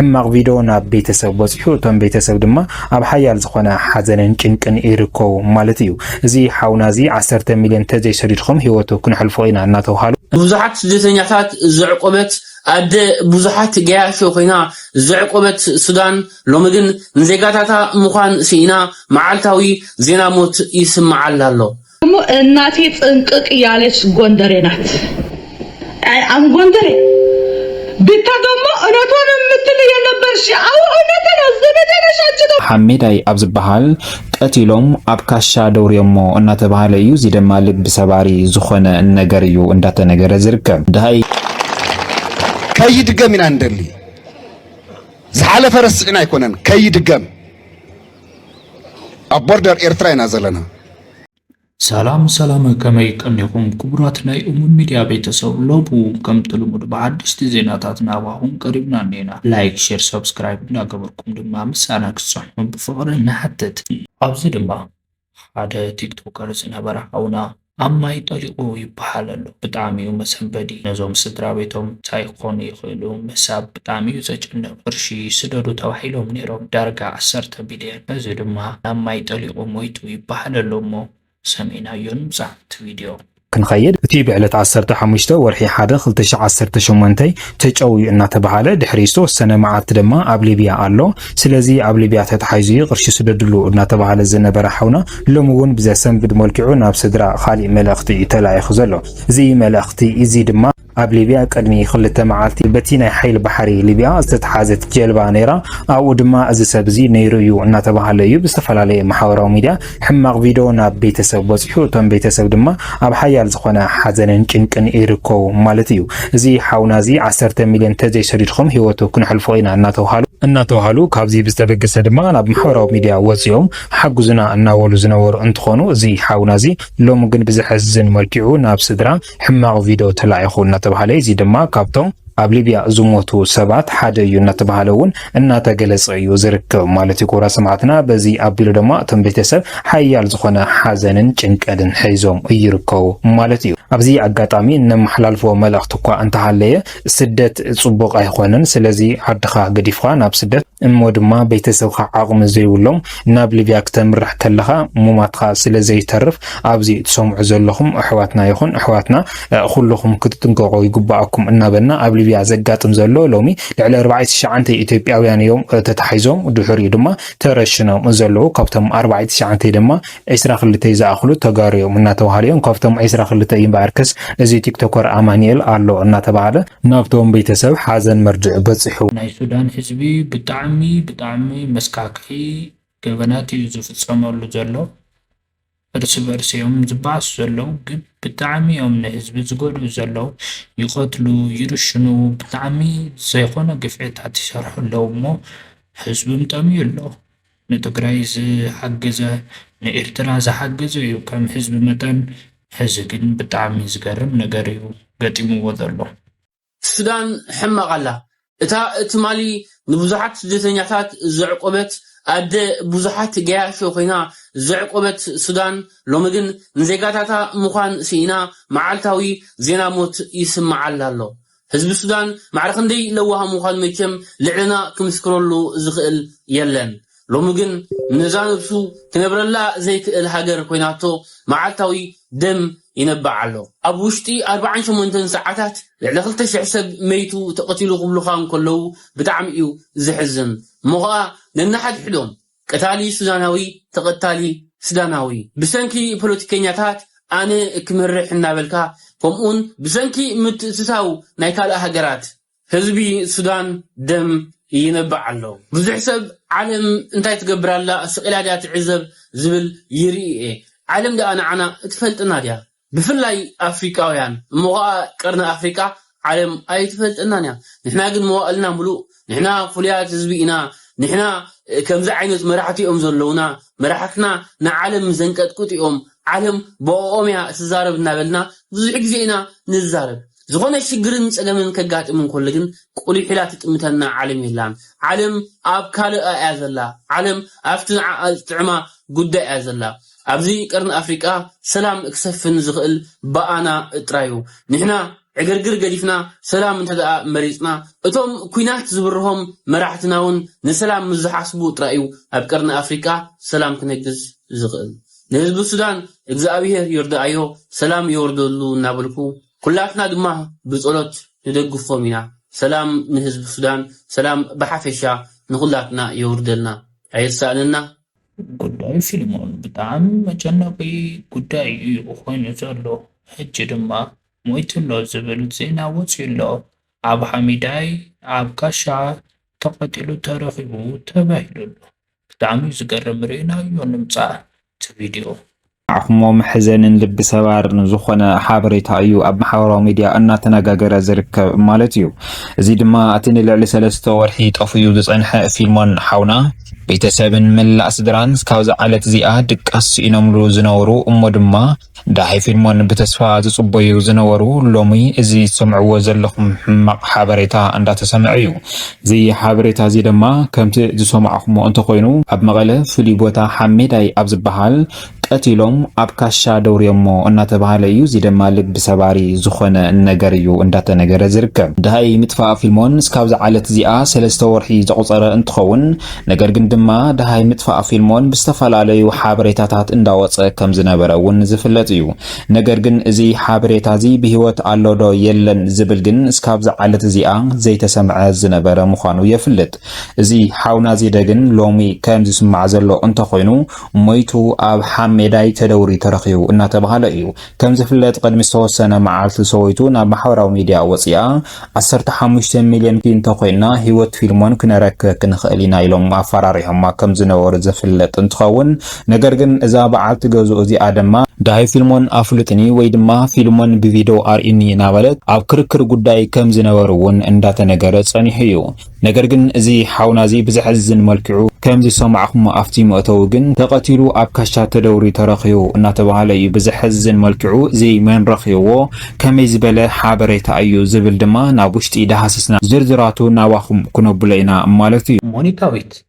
ሕማቕ ቪዶ ናብ ቤተሰብ በጺሑ እቶም ቤተሰብ ድማ ኣብ ሓያል ዝኾነ ሓዘንን ጭንቅን ይርከቡ ማለት እዩ። እዚ ሓውና እዚ ዓሰርተ ሚልዮን ተዘይ ሰዲድኩም ሂወቱ ክንሕልፎ ኢና እናተብሃሉ። ብዙሓት ስደተኛታት ዘዕቆበት ኣደ ብዙሓት ገያሾ ኮይና ዘዕቆበት ሱዳን ሎሚ ግን ንዜጋታታ ምዃን ስኢና መዓልታዊ ዜና ሞት ይስመዓላ ኣሎ። እሞ እናቴ ጥንቅቅ ያለች ጎንደሬ ናት። አይ አም ጎንደሬ ብታ ደግሞ እውነቷን የምትል የነበርሽ አዎ እውነት ነው። ዘመዴ ነሽ አንቺ ነው ሓሜዳይ ኣብ ዝበሃል ቀቲሎም ኣብ ካሻ ደውርዮሞ እናተባህለ እዩ። እዚ ድማ ልቢ ሰባሪ ዝኾነ ነገር እዩ እንዳተነገረ ዝርከብ ድሃይ ከይድገም ኢና እንደሊ ዝሓለፈ ረሲዕና ኣይኮነን ከይድገም ኣብ ቦርደር ኤርትራ ኢና ዘለና። ሰላም ሰላም ከመይ ቀኒኹም ክቡራት ናይ እሙን ሚድያ ቤተሰብ ሎቡ ከምቲ ልሙድ ብሓደሽቲ ዜናታት ናባኹም ቀሪብና እኔና ላይክ ሼር ሰብስክራይብ እንዳገበርኩም ድማ ምሳና ክትጸንሑ ብፍቕሪ ንሓትት ኣብዚ ድማ ሓደ ቲክቶከር ዝነበረ ሓውና ኣብ ማይ ጠሊቁ ይበሃል ኣሎ ብጣዕሚ እዩ መሰንበዲ ነዞም ስድራቤቶም እንታይ ክኮኑ ይክእሉ ምሕሳብ ብጣዕሚ እዩ ዘጨንቅ ቅርሺ ስደዱ ተባሂሎም ኔሮም ዳርጋ ዓሰርተ ቢልየን በዚ ድማ ናብ ማይ ጠሊቁ ሞይቱ ይበሃል ኣሎ እሞ ሰሚዕናዮ ንምጻእ ኣብቲ ቪድዮ ክንከይድ እቲ ብዕለት ዓሰርተ ሓሙሽተ ወርሒ ሓደ ክልተ ሽሕ ዓሰርተ ሸሞንተ ተጨውዩ እናተበሃለ ድሕሪ ዝተወሰነ መዓልቲ ድማ ኣብ ሊብያ ኣሎ ስለዚ ኣብ ሊብያ ተታሒዙ እዩ ቅርሺ ስደድሉ እናተባህለ ዝነበረ ሓውና ሎሚ እውን ብዘሰንብድ መልክዑ ናብ ስድራ ካሊእ መልእኽቲ እዩ ተላኢኹ ዘሎ። እዚ መልእኽቲ እዚ ድማ ኣብ ሊብያ ቅድሚ ክልተ መዓልቲ በቲ ናይ ሓይሊ ባሕሪ ሊብያ ዝተትሓዘት ጀልባ ነይራ ኣብኡ ድማ እዚ ሰብ እዚ ነይሩ እዩ እናተባህለ እዩ ብዝተፈላለየ ማሕበራዊ ሚድያ ሕማቕ ቪዶ ናብ ቤተሰብ በጺሑ እቶም ቤተሰብ ድማ ኣብ ሓያል ዝኾነ ሓዘንን ጭንቅን ይርከቡ ማለት እዩ። እዚ ሓውና እዚ ዓሰርተ ሚልዮን ተዘይሰዲድኩም ህይወቱ ክነሕልፎ ኢና እናተብሃሉ እናተብሃሉ ካብዚ ብዝተበገሰ ድማ ናብ ማሕበራዊ ሚድያ ወጺኦም ሓግዙና እናበሉ ዝነበሩ እንትኾኑ እዚ ሓውና እዚ ሎሚ ግን ብዘሕዝን መልኪዑ ናብ ስድራ ሕማቕ ቪዶ ተላኢኹ እናተብሃለ እዚ ድማ ካብቶም ኣብ ሊብያ ዝሞቱ ሰባት ሓደ እዩ እናተባሃለ እውን እናተገለጸ እዩ ዝርከብ ማለት እዩ። ክቡራት ሰማዕትና በዚ ኣቢሉ ድማ እቶም ቤተሰብ ሓያል ዝኾነ ሓዘንን ጭንቀትን ሒዞም ይርከቡ ማለት እዩ። ኣብዚ ኣጋጣሚ እነመሓላልፎ መልእኽቲ እኳ እንተሃለየ ስደት ጽቡቕ ኣይኾነን። ስለዚ ዓድኻ ገዲፍኻ ናብ ስደት እሞ ድማ ቤተሰብካ ዓቕሚ ዘይብሎም ናብ ሊብያ ክተምርሕ ከለኻ ሙማትካ ስለ ዘይተርፍ ኣብዚ ትሰምዑ ዘለኹም ኣሕዋትና ይኹን ኣሕዋትና ኹሉኹም ክትጥንቀቁ ይግበኣኩም እናበልና ኣብ ሊብያ ዘጋጥም ዘሎ ሎሚ ልዕሊ ኣርባዕተ ትሽዓንተ ኢትዮጵያውያን እዮም ተታሒዞም ድሑሪኡ ድማ ተረሽኖም ዘለዉ ካብቶም ኣርባዕተ ትሽዓንተ ድማ ዕስራ ክልተ ዝኣኽሉ ተጋሩ እዮም እናተባሃሉ እዮም ካብቶም ዕስራ ክልተ እዩ እምበኣርከስ እዚ ቲክቶከር ኣማኒኤል ኣሎ እናተባሃለ ናብቶም ቤተሰብ ሓዘን መርድእ በፂሑ። ናይ ሱዳን ህዝቢ ብጣዕሚ ብጣዕሚ መስካክሒ ገበናት እዩ ዝፍፀመሉ ዘሎ እርስ በርስ እዮም ዝባኣሱ ዘለዉ ግን ብጣዕሚ እዮም ንህዝቢ ዝጎድኡ ዘለዉ ይቀትሉ ይርሽኑ ብጣዕሚ ዘይኮነ ግፍዕታት ይሰርሑ ኣለዉ እሞ ህዝብም ጠምዩ ኣሎ ንትግራይ ዝሓገዘ ንኤርትራ ዝሓገዘ እዩ ከም ህዝቢ መጠን ሕዚ ግን ብጣዕሚ ዝገርም ነገር እዩ ገጢምዎ ዘሎ። እቲ ሱዳን ሕማቅ ኣላ እታ ትማሊ ንቡዙሓት ስደተኛታት ዘዕቆበት ኣደ ቡዙሓት ገያሾ ኮይና ዘዕቆበት ሱዳን ሎሚ ግን ንዜጋታታ ምዃን ሲኢና መዓልታዊ ዜና ሞት ይስመዓላ ኣሎ ህዝቢ ሱዳን ማዕረ ክንደይ ለዋህ ምዃኑ መቸም ልዕለና ክምስክረሉ ዝኽእል የለን ሎሚ ግን ንነዛ ነብሱ ክነብረላ ዘይክእል ሃገር ኮይናቶ መዓልታዊ ደም ይነብዕ ኣሎ። ኣብ ውሽጢ ኣርብዓን ሸሞንተን ሰዓታት ልዕሊ ክልተ ሽሕ ሰብ መይቱ ተቀቲሉ ክብሉኻ እንከለዉ ብጣዕሚ እዩ ዘሕዝን እሞ ኸኣ ነንሓድሕዶም ቀታሊ ሱዳናዊ ተቀታሊ ስዳናዊ ብሰንኪ ፖለቲከኛታት ኣነ ክመርሕ እናበልካ ከምኡውን ብሰንኪ ምትእትታው ናይ ካልእ ሃገራት ህዝቢ ሱዳን ደም ይነብዕ ኣሎ። ብዙሕ ሰብ ዓለም እንታይ ትገብር ኣላ ስቂላ ድያ ትዕዘብ ዝብል ይርኢ እየ። ዓለም ድኣ ንዓና ትፈልጠና ድያ? ብፍላይ ኣፍሪቃውያን እሞ ከኣ ቀርኒ ኣፍሪቃ ዓለም ኣይትፈልጠናን እያ። ንሕና ግን መዋእልና ምሉእ ንሕና ፍሉያት ህዝቢ ኢና ንሕና ከምዚ ዓይነት መራሕቲ እዮም ዘለዉና መራሕትና ንዓለም ዘንቀጥቅጡ እዮም ዓለም ብኦኦም እያ ትዛረብ እናበልና ብዙሕ ግዜ ኢና ንዛረብ። ዝኾነ ሽግርን ጸገምን ከጋጥም እንከሎ ግን ቁሊሕ ኢላ ትጥምተና ዓለም የላን። ዓለም ኣብ ካልኣ እያ ዘላ። ዓለም ኣብቲ ንዓኣ ዝጥዕማ ጉዳይ እያ ዘላ። ኣብዚ ቀርኒ ኣፍሪቃ ሰላም ክሰፍን ዝኽእል ብኣና ጥራዩ። ንሕና ዕግርግር ገዲፍና ሰላም እንተድኣ መሪጽና እቶም ኩናት ዝብርሆም መራሕትናውን ንሰላም ምስ ዝሓስቡ ጥራይ'ዩ ኣብ ቀርኒ ኣፍሪቃ ሰላም ክነግስ ዝኽእል። ንህዝቢ ሱዳን እግዝኣብሄር ይርድኣዮ ሰላም የውርደሉ እናበልኩ ኩላትና ድማ ብጸሎት ንደግፎም ኢና ሰላም ንህዝቢ ሱዳን ሰላም ብሓፈሻ ንኹላትና የውርደልና ኣይርሳእንና። ጉዳይ ፊልሞን ብጣዕሚ መጨነቂ ጉዳይ እዩ ኮይኑ ዘሎ ሕጂ ድማ ሞይቱሎ ዝብል ዜና ወፅዩሎ ኣብ ሓሚዳይ ኣብ ጋሻ ተቀቲሉ ተረኪቡ ተባሂሉሎ ብጣዕሚ እዩ ዝገርም ርኢናዮ ንምፃእ እቲ ቪድዮ። ዓክሞ መሕዘንን ልቢ ሰባርን ዝኾነ ሓበሬታ እዩ ኣብ ማሕበራዊ ሚድያ እናተነጋገረ ዝርከብ ማለት እዩ። እዚ ድማ እቲ ንልዕሊ ሰለስተ ወርሒ ጠፉዩ ዝፀንሐ ፊልሞን ሓውና ቤተሰብን መላእ ስድራን እስካብ እዛ ዕለት እዚኣ ድቃስ ስኢኖምሉ ዝነበሩ እሞ ድማ ዳሓይ ፊልሞን ብተስፋ ዝጽበዩ ዝነበሩ ሎሚ እዚ ትሰምዕዎ ዘለኹም ሕማቕ ሓበሬታ እንዳተሰምዐ እዩ። እዚ ሓበሬታ እዚ ድማ ከምቲ ዝሰማዕኹሞ እንተኾይኑ ኣብ መቐለ ፍሉይ ቦታ ሓሜዳይ ኣብ ዝባሃል ቀቲሎም ኣብ ካሻ ደውርዮሞ እናተባሃለ እዩ። እዚ ድማ ልቢ ሰባሪ ዝኾነ ነገር እዩ እንዳተነገረ ዝርከብ። ዳሃይ ምጥፋእ ፊልሞን እስካብዚ ዓለት እዚኣ ሰለስተ ወርሒ ዘቑጸረ እንትኸውን፣ ነገር ግን ድማ ደሃይ ምጥፋእ ፊልሞን ብዝተፈላለዩ ሓበሬታታት እንዳወጸ ከም ዝነበረ እውን ዝፍለጥ እዩ። ነገር ግን እዚ ሓበሬታ እዚ ብህይወት ኣሎ ዶ የለን ዝብል ግን እስካብዛ ዓለት እዚኣ ዘይተሰምዐ ዝነበረ ምዃኑ የፍልጥ። እዚ ሓውና ዚደ ግን ሎሚ ከም ዝስማዕ ዘሎ እንተኾይኑ ሞይቱ ኣብ ሓሜዳይ ተደውርዩ ተረኺቡ እናተባህለ እዩ። ከም ዝፍለጥ ቕድሚ ዝተወሰነ መዓልቲ ሰወይቱ ናብ ማሕበራዊ ሚድያ ወጺኣ ዓሰርተ ሓሙሽተ ሚልዮን ግን እንተኾይንና ህይወት ፊልሞን ክነረክክ ንኽእል ኢና ኢሎም ኣፈራሪሖማ ከም ዝነበሩ ዝፍለጥ እንትኸውን፣ ነገር ግን እዛ በዓልቲ ገዝኡ እዚኣ ድማ፣ ደሃይ ፊልሞን ኣፍልጡኒ ወይ ድማ ፊልሞን ብቪድዮ ኣርእዩኒ እናበለት ኣብ ክርክር ጉዳይ ከም ዝነበሩ'ውን እንዳተነገረ ጸኒሑ እዩ። ነገር ግን እዚ ሓውና እዚ ብዘሕዝን መልክዑ ከም ዝሰማዕኩሞ ኣፍቲ መእተዊ ግን ተቀቲሉ ኣብ ካሻ ተደውርዩ ተረኪቡ እናተባሃለ እዩ ብዘሕዝን መልክዑ እዚ መን ረኪብዎ ከመይ ዝበለ ሓበሬታ እዩ ዝብል ድማ ናብ ውሽጢ ዳሃስስና ዝርዝራቱ ናባኩም ክነብሎ ኢና ማለት እዩ። ሞኒካዊት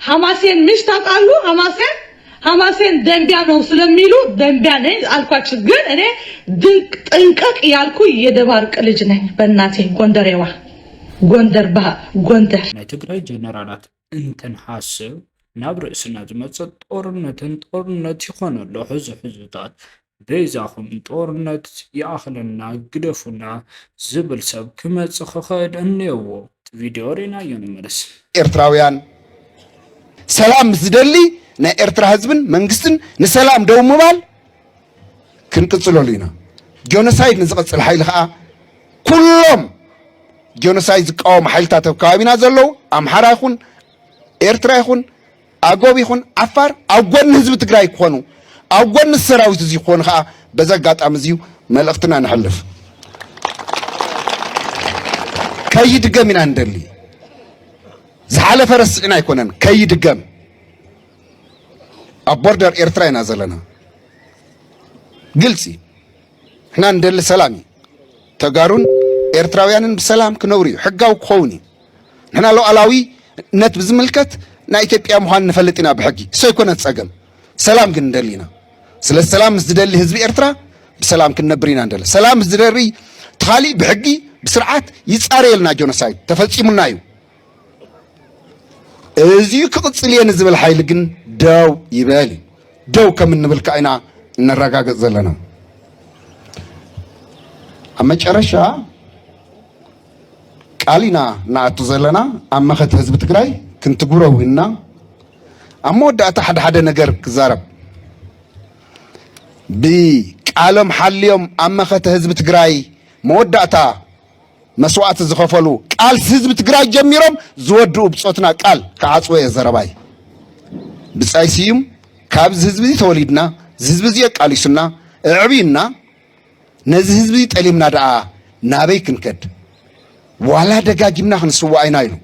ሐማሴን ምሽ ታቃሉ ሐማሴን ሐማሴን ደንቢያ ነው ስለሚሉ ደንቢያ ነኝ አልኳችሁ። ግን እኔ ድንቅ ጥንቅቅ ያልኩ የደባርቅ ልጅ ነኝ። በእናቴ ጎንደሬዋ ጎንደር ባ ጎንደር ናይ ትግራይ ጀነራላት እንተንሓስብ ናብ ርእስና ዝመፅእ ጦርነትን ጦርነት ይኾነ ኣሎ ሕዚ ሕዝታት በይዛኹም ጦርነት ይኣኽለና ግደፉና ዝብል ሰብ ክመጽእ ክኽእል እኔዎ። እቲ ቪድዮ ሪእናዮ ንመለስ። ኤርትራውያን ሰላም ምስ ዝደሊ ናይ ኤርትራ ህዝብን መንግስትን ንሰላም ደው ምባል ክንቅጽለሉ ኢና። ጆኖሳይድ ንዝቐጽል ሓይሊ ከኣ ኩሎም ጆኖሳይድ ዝቃወሙ ሓይልታት ኣብ ከባቢና ዘለዉ ኣምሓራ ይኹን ኤርትራ ይኹን ኣጎብ ይኹን ዓፋር ኣብ ጎኒ ህዝቢ ትግራይ ክኾኑ ኣብ ጎኒ ሰራዊት እዚ ክኾኑ ከዓ በዚ ኣጋጣሚ እዚዩ መልእኽትና ነሕልፍ ከይድገም ኢና ንደሊ ዝሓለፈ ረስዕና ኣይኮነን ከይድገም ኣብ ቦርደር ኤርትራ ኢና ዘለና ግልፂ ንሕና ንደሊ ሰላም እዩ። ተጋሩን ኤርትራውያንን ብሰላም ክነብሩ እዩ፣ ሕጋዊ ክኸውን እዩ። ንሕና ሉዓላዊነት ብዝምልከት ናይ ኢትዮጵያ ምዃን ንፈልጥ ኢና ብሕጊ፣ እሱ ኣይኮነን ጸገም። ሰላም ግን ንደሊ ኢና። ስለዚ ሰላም ምስ ዝደሊ ህዝቢ ኤርትራ ብሰላም ክንነብር ኢና ንደሊ። ሰላም ምስ ዝደርይ ተኻሊ ብሕጊ ብስርዓት ይጻረየልና ጆኖሳይድ ተፈጺሙና እዩ። እዚዩ ክቕፅል እየ ንዝብል ሓይሊ ግን ደው ይበል እዩ። ደው ከም እንብል ከዓ ኢና እነረጋግፅ ዘለና። ኣብ መጨረሻ ቃል ኢና ንኣቱ ዘለና ኣብ መኸት ህዝቢ ትግራይ ክንትግብሮ ውንና ኣብ መወዳእታ ሓደ ሓደ ነገር ክዛረብ ብቃሎም ሓልዮም ኣብ መኸተ ህዝቢ ትግራይ መወዳእታ መስዋእቲ ዝኸፈሉ ቃልሲ ህዝቢ ትግራይ ጀሚሮም ዝወድኡ ብፆትና ቃል ክዓፅወ እየ ዘረባይ። ብፃይ ስዩም ካብዚ ህዝቢ እዚ ተወሊድና ዝህዝቢ እዚ ኣቃሊሱና እዕብዩና ነዚ ህዝቢ እዚ ጠሊምና ደኣ ናበይ ክንከድ ዋላ ደጋጊምና ክንስዋእ ኢና ኢሉ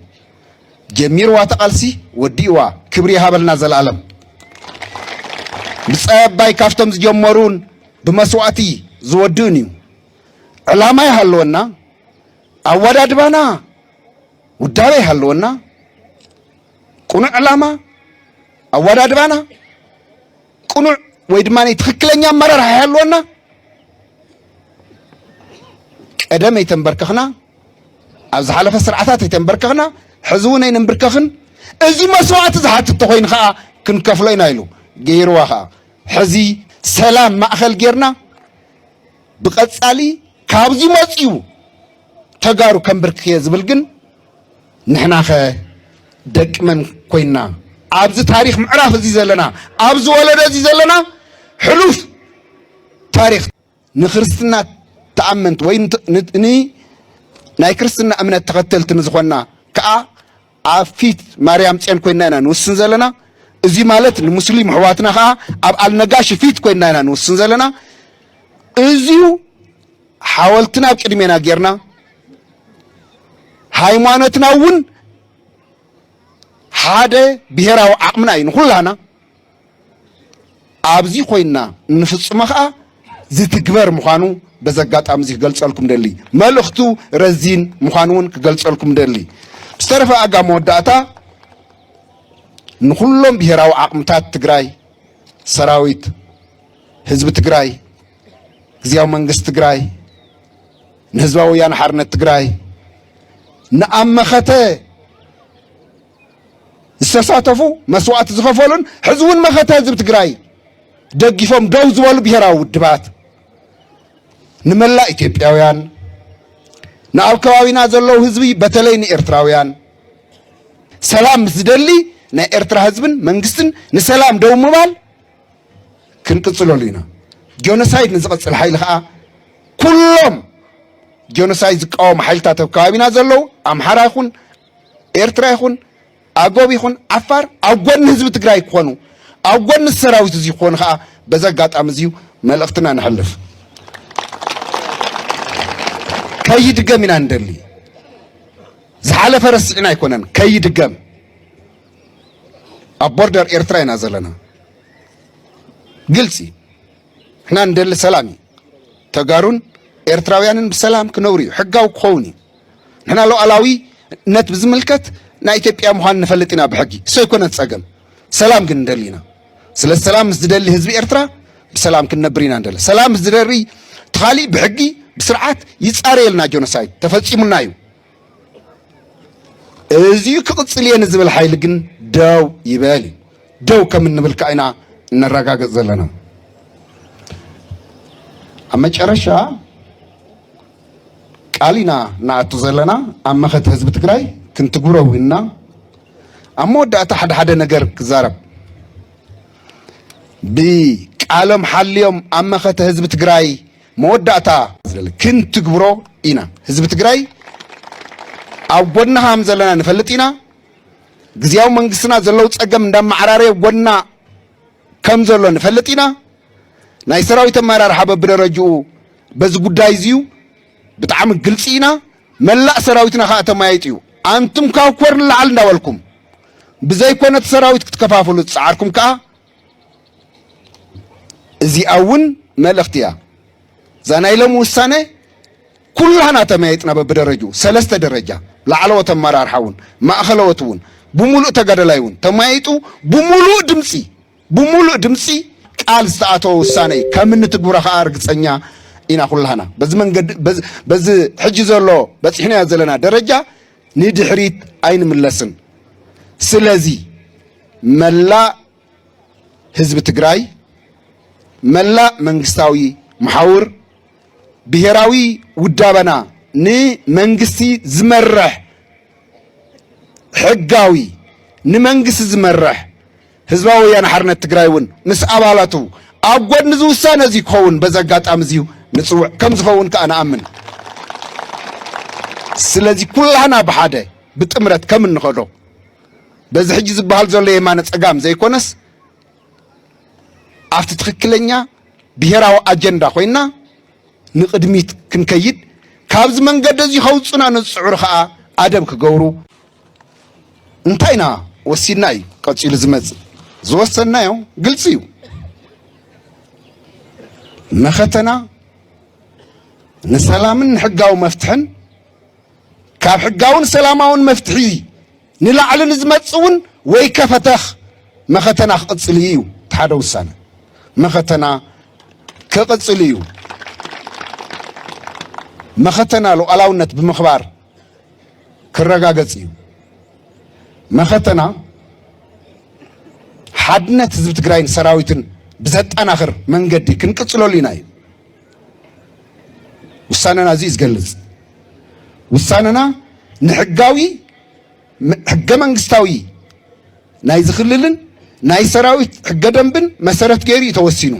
ጀሚርዋ ተቓልሲ ወዲእዋ ክብሪ ይሃበልና ዘለኣለም ብፃይ ኣባይ ካብቶም ዝጀመሩን ብመስዋእቲ ዝወድእን እዩ ዕላማ ይሃልወና፣ ኣወዳድባና ውዳበ ይሃልወና፣ ቅኑዕ ዕላማ ኣወዳድባና ቅኑዕ ወይ ድማ ትክክለኛ ኣመራርሓ ይሃልወና። ቀደም ኣይተንበርከኽና፣ ኣብ ዝሓለፈ ስርዓታት ኣይተንበርከኽና፣ ሕዚ እውን ኣይንንብርከኽን። እዚ መስዋእቲ ዝሓትት ተኮይኑ ከዓ ክንከፍሎ ኢና ኢሉ ገይርዋ ከዓ ሕዚ ሰላም ማእኸል ጌርና ብቀጻሊ ካብዚ መጽዩ ተጋሩ ከምብርክኽ እየ ዝብል ግን ንሕናኸ ደቂ መን ኮይና ኣብዚ ታሪክ ምዕራፍ እዚ ዘለና ኣብዚ ወለዶ እዚ ዘለና ሕሉፍ ታሪክ ንክርስትና ተኣመንቲ ወይ ናይ ክርስትና እምነት ተኸተልቲ ንዝኾንና ከዓ ኣብ ፊት ማርያም ጽዮን ኮይንና ኢና ንውስን ዘለና። እዚ ማለት ንሙስሊም ኣሕዋትና ከኣ ኣብ ኣልነጋሺ ፊት ኮይንና ኢና ንውስን ዘለና። እዚዩ ሓወልትና ኣብ ቅድሜና ጌርና ሃይማኖትና እውን ሓደ ብሄራዊ ዓቕምና እዩ ንኹላህና ኣብዚ ኮይንና እንፍጽሞ ከኣ ዝትግበር ምዃኑ በዚ ኣጋጣሚ እዚ ክገልጸልኩም ደሊ መልእኽቱ ረዚን ምዃኑ እውን ክገልጸልኩም ደሊ ብዝተረፈ ኣጋ መወዳእታ ንኩሎም ብሄራዊ ዓቕምታት ትግራይ ሰራዊት ህዝቢ ትግራይ ግዜያዊ መንግስቲ ትግራይ ንህዝባዊ ወያነ ሓርነት ትግራይ ንኣብ መኸተ ዝተሳተፉ መስዋእቲ ዝኸፈሉን ሕዚ እውን መኸተ ህዝቢ ትግራይ ደጊፎም ደው ዝበሉ ብሔራዊ ውድባት ንመላእ ኢትዮጵያውያን ንኣብ ከባቢና ዘለዉ ህዝቢ በተለይ ንኤርትራውያን ሰላም ምስ ዝደሊ ናይ ኤርትራ ህዝብን መንግስትን ንሰላም ደው ምባል ክንቅፅለሉ ኢና ጆኖሳይድ ንዝቐፅል ሓይሊ ከዓ ኩሎም ጆኖሳይድ ዝቃወሙ ሓይልታት ኣብ ከባቢና ዘለዉ ኣምሓራ ይኹን ኤርትራ ይኹን ኣጎብ ይኹን ዓፋር ኣብ ጎኒ ህዝቢ ትግራይ ክኾኑ ኣብ ጎኒ ሰራዊት እዚ ክኾኑ ከዓ በዚ ኣጋጣሚ እዚዩ መልእኽትና ንሕልፍ ከይድገም ኢና ንደሊ ዝሓለፈ ረሲዕና ኣይኮነን ከይድገም ኣብ ቦርደር ኤርትራ ኢና ዘለና ግልፂ ንሕና ንደሊ ሰላም እዩ ተጋሩን ኤርትራውያንን ብሰላም ክነብሩ እዩ ሕጋዊ ክኸውን እዩ ንሕና ሉዓላዊነት ብዝምልከት ናይ ኢትዮጵያ ምዃን ንፈልጥ ኢና ብሕጊ እሱ ኣይኮነን ፀገም ሰላም ግን ንደሊ ኢና ስለ ሰላም ምስ ዝደሊ ህዝቢ ኤርትራ ብሰላም ክንነብር ኢና ንደሊ ሰላም ምስ ዝደሪ ተኻሊ ብሕጊ ብስርዓት ይፃረየልና ጆኖሳይድ ተፈፂሙና እዩ እዚዩ ክቕፅል እየ ንዝብል ሓይሊ ግን ደው ይበል እዩ ደው ከም እንብል ከዓ ኢና እነረጋግፅ ዘለና ኣብ መጨረሻ ቃል ኢና ንኣቱ ዘለና ኣብ መኸተ ህዝቢ ትግራይ ክንትግብሮ ዊንና ኣብ መወዳእታ ሓደ ሓደ ነገር ክዛረብ ብቃሎም ሓልዮም ኣብ መኸተ ህዝቢ ትግራይ መወዳእታ ክንትግብሮ ኢና ህዝቢ ትግራይ ኣብ ጎድና ሃም ዘለና ንፈልጥ ኢና ግዜያዊ መንግስትና ዘለው ፀገም እንዳመዓራረየ ጎና ከም ዘሎ ንፈልጥ ኢና ናይ ሰራዊት ኣመራርሓ በብደረጅኡ በዚ ጉዳይ እዚዩ ብጣዕሚ ግልፂ ኢና መላእ ሰራዊትና ከዓ ተማያይጥ እዩ ኣንቱም ካብ ኮር ንላዓል እንዳበልኩም ብዘይኮነ እቲ ሰራዊት ክትከፋፍሉ ዝፀዓርኩም ከዓ እዚኣ እውን መልእኽቲ እያ እዛ ናይ ሎሚ ውሳነ ኩላህና ተመያይጥና በብደረጅኡ ሰለስተ ደረጃ ላዕለዎት ኣመራርሓ እውን ማእኸለዎት እውን ብሙሉእ ተጋደላይ እውን ተመያይጡ ብሙሉእ ድምፂ ብሙሉእ ድምፂ ቃል ዝተኣተወ ውሳነ እዩ ከም እንትግብሮ ከዓ ርግፀኛ ኢና ኩላህና በዚ መንገዲ በዚ ሕጂ ዘሎ በፂሕናዮ ዘለና ደረጃ ንድሕሪት ኣይንምለስን ስለዚ መላእ ህዝቢ ትግራይ መላእ መንግስታዊ መሓውር ብሄራዊ ውዳበና ንመንግስቲ ዝመርሕ ሕጋዊ ንመንግስቲ ዝመርሕ ህዝባዊ ወያነ ሓርነት ትግራይ እውን ምስ ኣባላቱ ኣብ ጎድኒ እዚ ውሳነ እዚ ክኸውን በዚ ኣጋጣሚ እዚዩ ንፅውዕ ከም ዝኸውን ከዓ ንኣምን ስለዚ ኩላህና ብሓደ ብጥምረት ከም እንኸዶ በዚ ሕጂ ዝበሃል ዘሎ የማነ ፀጋም ዘይኮነስ ኣብቲ ትክክለኛ ብሄራዊ ኣጀንዳ ኮይና ንቅድሚት ክንከይድ ካብዚ መንገዲ እዚ ከውፁና ንዝፅዕሩ ከዓ ኣደብ ክገብሩ እንታይ ኢና ወሲድና እዩ ቀፂሉ ዝመፅእ ዝወሰናዮ ግልፂ እዩ መኸተና ንሰላምን ንሕጋዊ መፍትሕን ካብ ሕጋውን ሰላማውን መፍትሒ ንላዕሊ ንዝመፅ እውን ወይ ከፈተኽ መኸተና ክቕፅል እዩ እቲ ሓደ ውሳነ መኸተና ክቕፅል እዩ መኸተና ሉዓላውነት ብምኽባር ክረጋገጽ እዩ። መኸተና ሓድነት ህዝቢ ትግራይን ሰራዊትን ብዘጠናኽር መንገዲ ክንቅፅለሉ ኢና እዩ ውሳነና እዚ ዝገልጽ ውሳነና ንሕጋዊ ሕገ መንግስታዊ ናይ ዝክልልን ናይ ሰራዊት ሕገ ደንብን መሰረት ገይሩ እዩ ተወሲኑ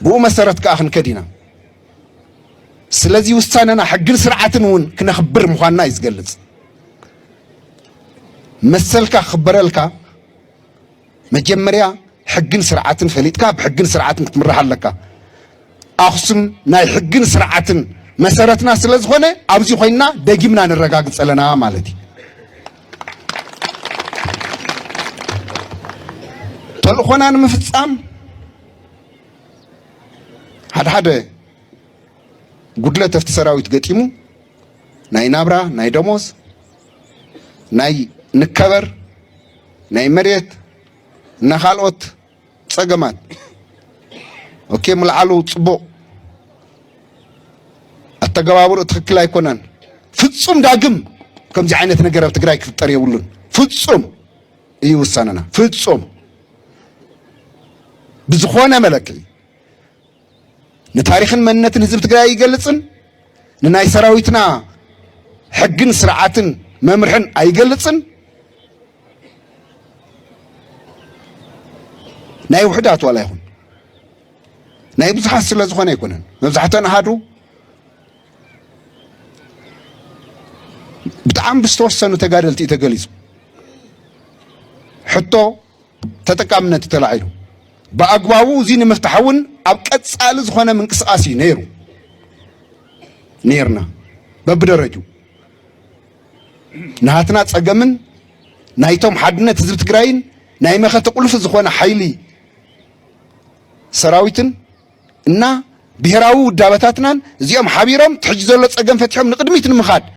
ብኡ መሰረት ከዓ ክንከድ ኢና ስለዚ ውሳነና ሕግን ስርዓትን እውን ክነኽብር ምዃንና እዩ ዝገልጽ። መሰልካ ክኽበረልካ መጀመርያ ሕግን ስርዓትን ፈሊጥካ ብሕግን ስርዓትን ክትምራሕ ኣለካ። ኣኽሱም ናይ ሕግን ስርዓትን መሰረትና ስለ ዝኾነ ኣብዚ ኮይንና ደጊምና ነረጋግፅ ኣለና ማለት እዩ ተልእኾና ንምፍፃም ሓደ ሓደ ጉድለት ኣብቲ ሰራዊት ገጢሙ ናይ ናብራ ናይ ደሞዝ ናይ ንከበር ናይ መሬት እና ካልኦት ፀገማት ኦኬ ምልዓሉ ፅቡቕ ኣተገባብሩ ትክክል ኣይኮነን። ፍፁም ዳግም ከምዚ ዓይነት ነገር ኣብ ትግራይ ክፍጠር የብሉን ፍፁም እዩ ውሳነና። ፍጹም ብዝኾነ መለክዒ ንታሪኽን መንነትን ህዝቢ ትግራይ ኣይገልጽን፣ ንናይ ሰራዊትና ሕግን ስርዓትን መምርሕን ኣይገልጽን፣ ናይ ውሕዳት ዋላ ይኹን ናይ ብዙሓት ስለ ዝኾነ ኣይኮነን መብዛሕተን ኣሃዱ ብጣዕሚ ብዝተወሰኑ ተጋደልቲ እዩ ተገሊፁ ሕቶ ተጠቃምነት እዩ ተላዒሉ ብኣግባቡ እዚ ንምፍታሕ እውን ኣብ ቀፃሊ ዝኾነ ምንቅስቃስ እዩ ነይሩ ነይርና በብደረጁ ናሃትና ፀገምን ናይቶም ሓድነት ህዝቢ ትግራይን ናይ መኸተ ቁልፊ ዝኾነ ሓይሊ ሰራዊትን እና ብሄራዊ ውዳበታትናን እዚኦም ሓቢሮም እቲ ሕጂ ዘሎ ፀገም ፈቲሖም ንቕድሚት ንምኻድ